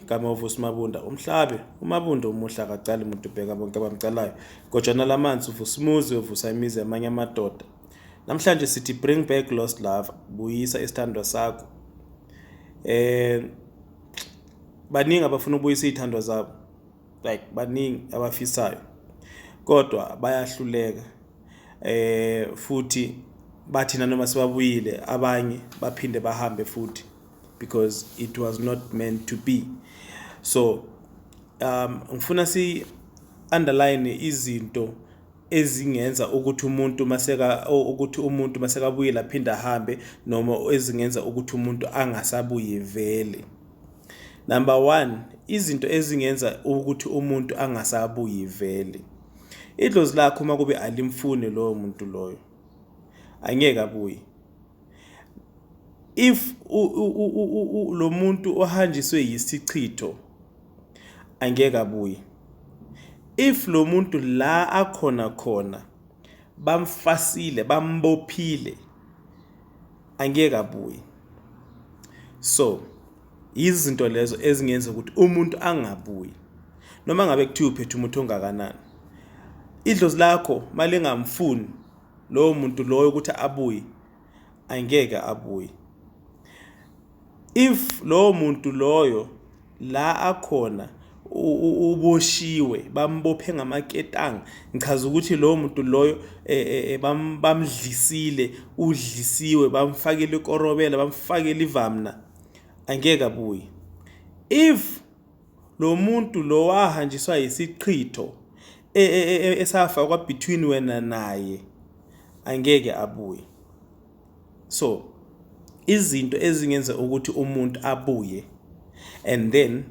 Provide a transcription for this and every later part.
Kamovu uSimabunda umhlabe uMabunda umuhle akacali muntu ubheka bonke abamcalayo gojana lamanzi uvusimuzi uvusa imizi yamanye amadoda namhlanje sithi bring back lost love buyisa isithandwa sakho eh baningi abafuna ukubuyisa izithandwa zabo like baningi abafisayo kodwa bayahluleka eh futhi bathina noma sibabuyile abanye baphinde bahambe futhi because it was not meant to be so um ngifuna si underline izinto ezingenza ukuthi umuntu maseka ukuthi umuntu masekabuye laphinda ahambe noma ezingenza ukuthi umuntu angasabuye vele number 1 izinto ezingenza ukuthi umuntu angasabuye vele idlozi lakho uma kube alimfuni loyo muntu loyo angeke abuye if lo muntu ohanjiswe yisichitho angeke abuye if lo muntu la akhona khona bamfasile bambophile angeke abuye so izinto lezo ezingenza ukuthi umuntu angabuyi noma ngabe kuthiwa uphethe umuthi ongakanani idlozi lakho malingamfuni lowo muntu loyo ukuthi abuye angeke abuye if lowo muntu loyo la akhona uboshiwe bambophe ngamaketanga ngichaza ukuthi lowo muntu loyo e, e, e, bamdlisile udlisiwe bamfakele ikorobela bamfakele ivamna angeke abuye if Lo muntu lo wahanjiswa yisichitho e, e, e, e esafakwa between wena naye angeke abuye so izinto ezingenza ukuthi umuntu abuye and then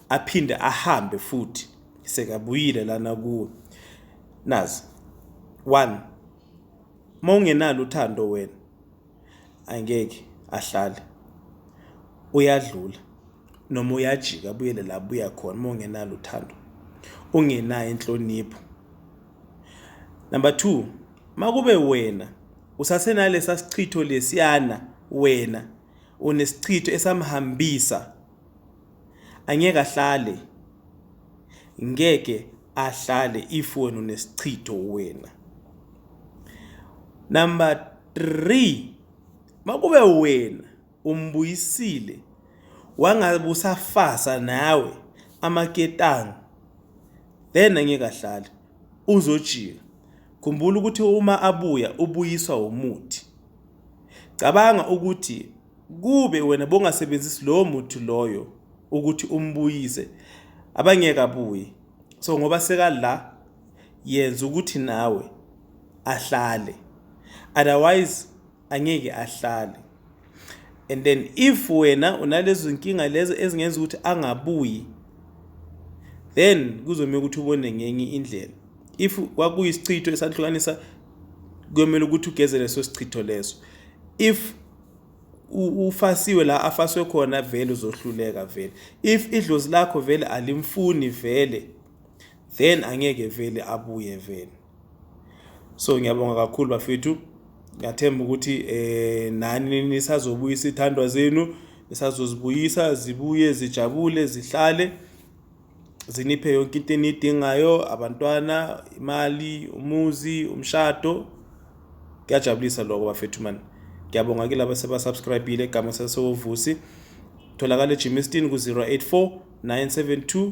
aphinde ahambe futhi sekabuyile lana kuwe nazi one mawungenalo uthando wena angeke ahlale uyadlula noma uyajika abuyele la buya khona uma ungenalo uthando ungenayo inhlonipho number 2 makube wena usasenalesa sichitho lesiyana wena unesichitho esamhambisa angeke ahlale ngeke ahlale if wena unesichitho wena number 3 makube wena umbuyisile wangabe usafasa nawe amaketanga then angeke ahlale uzojika khumbula ukuthi uma abuya ubuyiswa umuthi cabanga ukuthi kube wena bongasebenzisi lowo muthi loyo ukuthi umbuyise abangeke abuye so ngoba sekala yenza ukuthi nawe ahlale otherwise angeke ahlale and then if wena unalezo nkinga lezo ezingenza ukuthi angabuyi then kuzomele ukuthi ubone ngenye indlela if kwakuyisichitho esahlukanisa kuyomele ukuthi ugeze leso sichitho leso if ufasiwe la afaswe khona vele uzohluleka vele if idlozi lakho vele alimfuni vele then angeke vele abuye vele so ngiyabonga kakhulu bafethu ngiyathemba ukuthi eh nani nisazobuyisa ithandwa zenu nisazozibuyisa zibuye zijabule zihlale ziniphe yonke into enidingayo abantwana imali umuzi umshado kuyajabulisa lokho bafethu mani ngiyabonga ke laba sebasubscribile egama sasewuvusi tholakala ejimistin ku-084 972